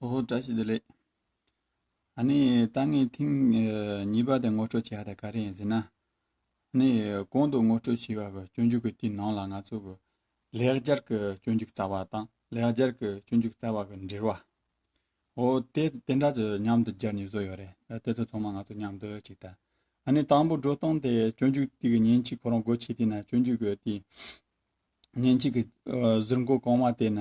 ཨོ་བཀྲ་ཤིས་བདེ་ལེགས། ཨ་ནི་ལྟ་ངན་ཐེངས་གཉིས་པ་དེ་ངོ་སྤྲོད་བྱས་དེ་ག་རེ་ཡིན་ཟེར་ན། ཨ་ནི་གོང་དུ་ངོ་སྤྲོད་བྱས་པ་གི་སྤྱོད་འཇུག་གི་དེའི་ནང་ལ་ང་ཚོ་གི་ལེགས་སྦྱར་གི་སྤྱོད་འཇུག་རྩ་བ་དང་ལེགས་སྦྱར་གི་སྤྱོད་འཇུག་རྩ་བ་གི་འབྲེལ་བ། ཨོ་དེ་དེ་འདྲ་ཚོ་མཉམ་དུ་སྦྱར་ནུས་བཟོ་ཡོད་རེད། དེ་ཚོ་ཚང་མ་ང་ཚོ་མཉམ་དུ་གཅིག་ལྟ། ཨ་ནི་དང་པོ་འགྲོ་སྟངས་དེ་སྤྱོད་འཇུག་དེ་གི་ཉིན་གཅིག་ཁོ་རང་སྒོ་ཕྱེ་དེ་ན་སྤྱོད་འཇུག་གི་དེ་ཉིན་གཅིག་གི་གཟུར་མགོ་གང་བ་དེ་ན་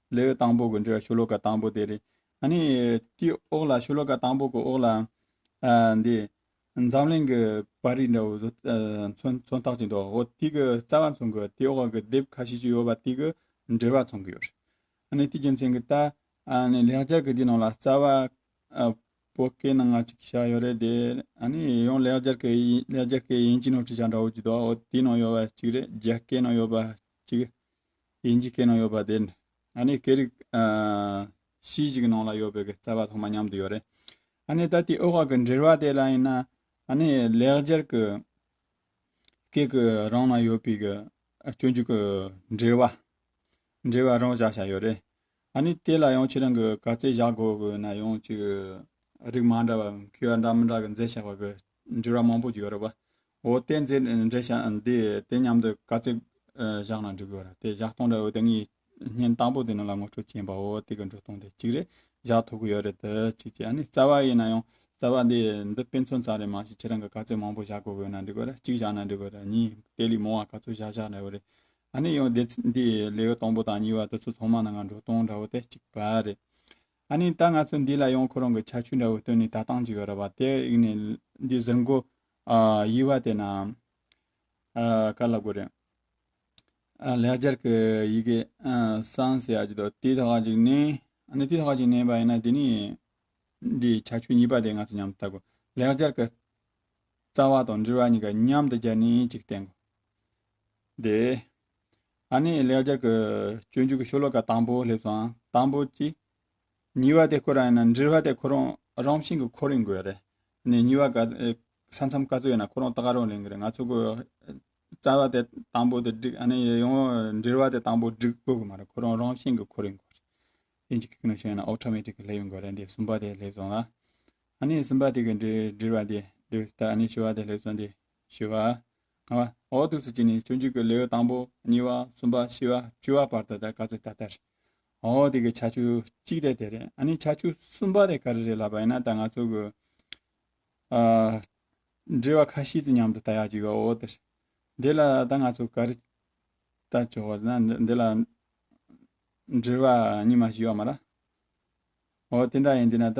ལེའུ་དང་པོ་གི་འགྲོས་ཤོ་ལོ་ཀ་དང་པོ་དེ་རེད། ནི། དེའི་འོག་ལ་ཤོ་ལོ་ཀ་དང་པོ་གི་འོག་ལ། འདི། འཛམ་གླིང་གི་བར་རིས་འདྲ་བོ་བཟོ། མཚོན་རྟགས་ཅིག་འདུག་འོ་དེ་གི་རྩ་བ་མཚོན་གི་དེའི་འོག་གི་དེབ་ཁ་ཤས་ཅིག་ཡོད་པ་དེ་གི་འགྲེལ་བ་མཚོན་གི་ཡོད་རེད། ནི་དེའི་རྒྱུ་མཚན་གྱིས་ད། ནི་ལེགས་སྦྱར་གྱི་དེའི་ནང་ལ་རྩ་བ། པོ་སྐད་ནང་ང་ཅིག་བཞག་ཡོད་རེད་དེ། ནི་ཡང་ལེགས་སྦྱར་གྱི་ཡིན་ལེགས་སྦྱར་གྱི་ཡིན་གྱི་ནང་བྲིས་བཞག་འདྲ་བོ་ཅིག་འདུག་འོ་དེའི་ནང་ཡོད་པ་ཅིག་རེད་རྒྱ་སྐད་ནང་ཡོད་པ་ཅིག། དབྱིན་ཇིའི་སྐད་ནང་ཡོད་པ་དེ། ང་ནི་སྐད་རིགས། གཞིས་ཀྱི་ནང་ལ་ཡོད་པའི་རྩ་བ་ཐོག་མ་མཉམ་དུ་ཡོད་རེད། ད་ནི་ད་ལྟའི་དབུས་ཁག་གི་འབྲེལ་བ་དེ་ལ་ཡིན་ན། ད་ནི་ལེགས་སྦྱར་གྱི་སྐད་ཀྱི་རང་ན་ཡོད་པའི་སྤྱོད་འཇུག་གི་འབྲེལ་བ། འབྲེལ་བ་རང་བཞག་བྱས་ཡོད་རེད། ད་ནི་དེ་ལ་ཡང་ཁྱེད་རང་གིས་ག་ཚད་བཞག་དགོས་ཀྱི་ཡོད་ན་ཡང་ཅིག། རིགས་མ་འདྲ་བ། མཁས་པ་འདྲ་མི་འདྲ་གི་མཛད་བྱ་བ་གི་འབྲི་བ་མང་པོ་ཡོད་རེད་བ། འོ་དེ་འཛིན་འགྲེལ་བྱ་འདི་དེ་སྙམ་དུ་དཀའ་ཚེགས་བཞག་ན་འགྲིག་གི། དེ་བཞག་སྟངས་འདྲ་འོ་དེ་ངའི་བརྙན་དང་པོ་དེ་ནང་ལ་ངོ་སྤྲོད་བྱས་པའོ་དེ་གི་འགྲོ་སྟངས་དེ་གཅིག་རེད་བཞག་ཐུབ་གི་ཡོད་རེད་དེ་གཅིག་གཅིག་ཨ་ནི་རྩ་བ་ཡིན་ན་ཡང་རྩ་བ་འདི་འདི་དཔེ་མཚོན་ཙམ་རེ་མ་བྱེད་ཁྱེད་རང་གི་དཀའ་ཚེགས་མང་པོ་བཞག་དགོས་དགོས་ན་འགྲིག་གི་རེད་གཅིག་བཞག་ན་འགྲིག་གི་རེད་གཉིས་དེ་ལས་མང་བ་ག་ཚོད་བཞག་བཞག་འདྲ་བོ་རེད། ཨ་ནི་ཡང་འདི་ལེའུ་དང་པོ་དང་གཉིས་བ་དེ་ཚོ་ཚང་མ་ནང་ལ་འགྲོ་སྟངས་འདྲ་བོ་དེ་གཅིག་པ་རེད། ཨ་ནི་ད་ང་ཚོ་འདི་ལ་ཡང་ཁོ་རང་གི་ཆ་ཆུ་འདྲ་བོ་བཏོན་ནས་ད་བཏང་བྱེད་ཀྱི་རེད་བ་དེ་ཡིན་ནས་འདི་ཟུར་མགོ་དབྱི་བ་དེ་རྣམས་ག་ལ་དགོས་རེད། ལེགས་སྦྱར་གྱི་ཡི་གེ་གསང་ཟེར་ཡག་ཅིག་འདུག་དེ་དག་ཅིག་ནས་ཨ་ནི་དེ་དག་ཅིག་ནས་བ་ཡིན་ན་དེ་ནི་འདིའི་ཆ་ཆུ་གཉིས་པ་དེ་ང་ཚོ་མཉམ་དུ་བལྟ་དགོས་ལེགས་སྦྱར་གྱི་རྩ་བ་དང་འབྲིར་བ་གཉིས་ཀ་མཉམ་དུ་སྦྱར་ནས་ཅིག་བསྟན་དགོས་དེ། ཨ་ནེ་ལེགས་སྦྱར་གྱི་སྤྱོད་འཇུག་གི་ཤོ་ལོ་ཀ་དང་པོ་སླེབས་སོང་དང་པོ་གཅིག། གཉིས་པ་དེ་ཁོ་རང་ཡིན་ན་འདྲིར་བ་དེ་ཁོ་རང་རང་བཞིན་གྱི་ཁོ་རེ་འགོས་རེད། ནས་གཉིས་བ་ག་ཚོད་ས་མཚམས་ག་ཚོད་ཡིན་ན་ཁོ་རང་ད་ག་རང་ལེན་གི་རེད་ང་ཚོ་གོ། རྩ་བ་དེ་དང་པོ་དེ་འགྲིག་ཨ་ནེ་ཡེ་ཡོང་འདྲིར་བ་དེ་དང་པོ་འགྲིག་དགོས་གི་མ་རེད་ཁོ་རང་རང་བཞིན་གྱི་ཁོ་རེ་འགོས་རེད། དེ་འཇིག་གི་ནང་བཞིན་ཡིན་ན Automatic སླེབས་ཡོང་དགོས་རེད་འདི་གསུམ་པ་དེ་སླེབས་སོང་ལ། ཨ་ནེ་གསུམ་པ་དེ་གི་འདྲིར་བ་དེ་འདུག་ད་ཨ་ནེ་བཅུ་བ་དེ་སླེབས་སོང་དེ། བཞི་བ། ལྔ་བ། འོག་ཏུ་སུ་གཅིག་ནི་སྤྱོད་འཇུག་གི་ལེའུ་དང་པོ་གཉིས་བ་གསུམ་པ་བཞི་བ་བཅུ་བ་བར་དུ་དེ་ག་ཚོད་ད་ལྟར་འོག་དེ་གི་ཆ་བཅུ་གཅིག་དེ་དེ་རེད་ཨ་ནི་ཆ་བཅུ་གསུམ་པ་དེ་ག་རེ་རེད་ལབ་པ་ཡིན་ན་ད་ང་ཚོ་གི་འབྲེལ་བ་ཁ་ཤིས་ཀྱི་མཉམ་དུ་ད་ཡག་བཅུ་བ་འོག་དེ་རེད་འདི་ལ་ད་ང་ཚོ་ག་རེ་ད་བཅུ་བ་ན་འདི་ལ་འབྲེལ་བ་གཉིས་མ་བཞི་བ་མ་ར་འོག་དེ་འདྲ་ཡིན་དེ་ན་ད